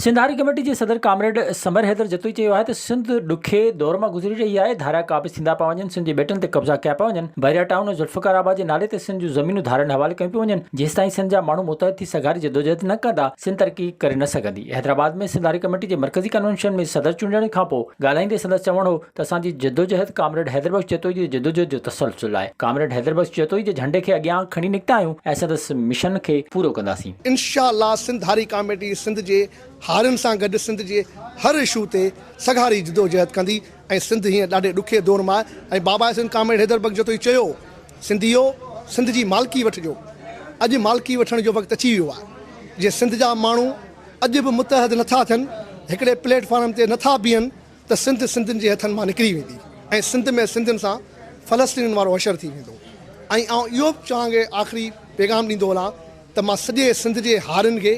Sindh Hari committee جي صدر comrade Samar Haider Jatoi چيو آهي ته سنڌ ڏکي دور مان گذري رهي آهي، ڌاريا قابض ٿيندا پيا وڃن، سنڌ جي ٻيٽن تي قبضا ڪيا پيا وڃن، بحريا ٽائون ۽ ذوالفقار آباد جي نالي تي سنڌ جون زمينون ڌارين حوالي ڪيون پيون وڃن، جيستائين سنڌ جا ماڻهو متحد ٿي سگهاري جدوجهد نه ڪندا، سنڌ ترقي ڪري نه سگهندي. حيدرآباد ۾ سنڌ هاري ڪميٽي جي مرڪزي ڪنوينشن ۾ صدر چونڊڻ کانپوء ڳالهائيندي سندس چوڻ هو ته اسان جي جدوجهد ڪامريڊ حيدر بخش جتوئي جي جدوجهد جو تسلسل آهي، ڪامريڊ حيدر بخش جتوئي جي جهنڊي کي اڳيان کڻي نڪتا آهيون ۽ سندس مشن کي پورو ڪنداسين. انشاء الله سنڌ هاري ڪاميٽي سنڌ جي هارين سان گڏ سنڌ جي هر اشو تي سگهاري جدوجهد ڪندي ۽ سنڌ هينئر ڏاڍي ڏکي دور مان ۽ بابا سنڌ ڪامريڊ حيدر بخش جتوئي چيو سنڌيو سنڌ جي مالڪي وٺجو اڄ مالڪي وٺڻ جو وقت اچي ويو آهي جي سنڌ جا ماڻهو اڄ به متحد نٿا ٿين هڪڙي پليٽ فارم تي نٿا بيهن ته سنڌ سنڌين جي هٿن مان نڪري ويندي ۽ سنڌ ۾ سنڌين سان فلسطينين وارو حشر ٿي ويندو ۽ آئون اهو به توهان کي آخري پيغام ڏيندو هلان ته مان سڄي سنڌ جي هارين کي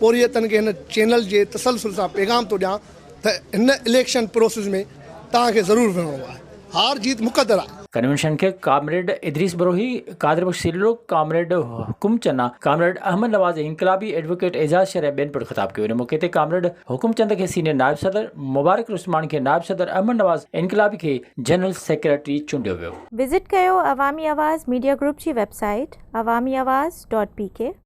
پورهيتن کي هن چينل جي تسلسل سان پيغام ٿو ڏيان ته هن اليڪشن پروسيس ۾ توهان کي ضرور وڙهڻو آهي. هار جيت مقدر آ. ڪنوينشن کي ڪامريڊ ادريس بروهي، قادر بخش سريلو، ڪامريڊ حڪم چنا، ڪامريڊ احمد نواز انقلابي، ايڊووڪيٽ اعجاز شر ۽ ٻين پڻ خطاب ڪيو ان موقعي تي ڪامريڊ حڪم چند کي سينيئر نائب صدر، مبارڪ العثمان کي نائب صدر، احمد نواز انقلابي کي جنرل سيڪريٽري چونڊيو ويو. وزٽ ڪيو عوامي آواز ميڊيا گروپ جي web site Awami Awaz dot P ڪي.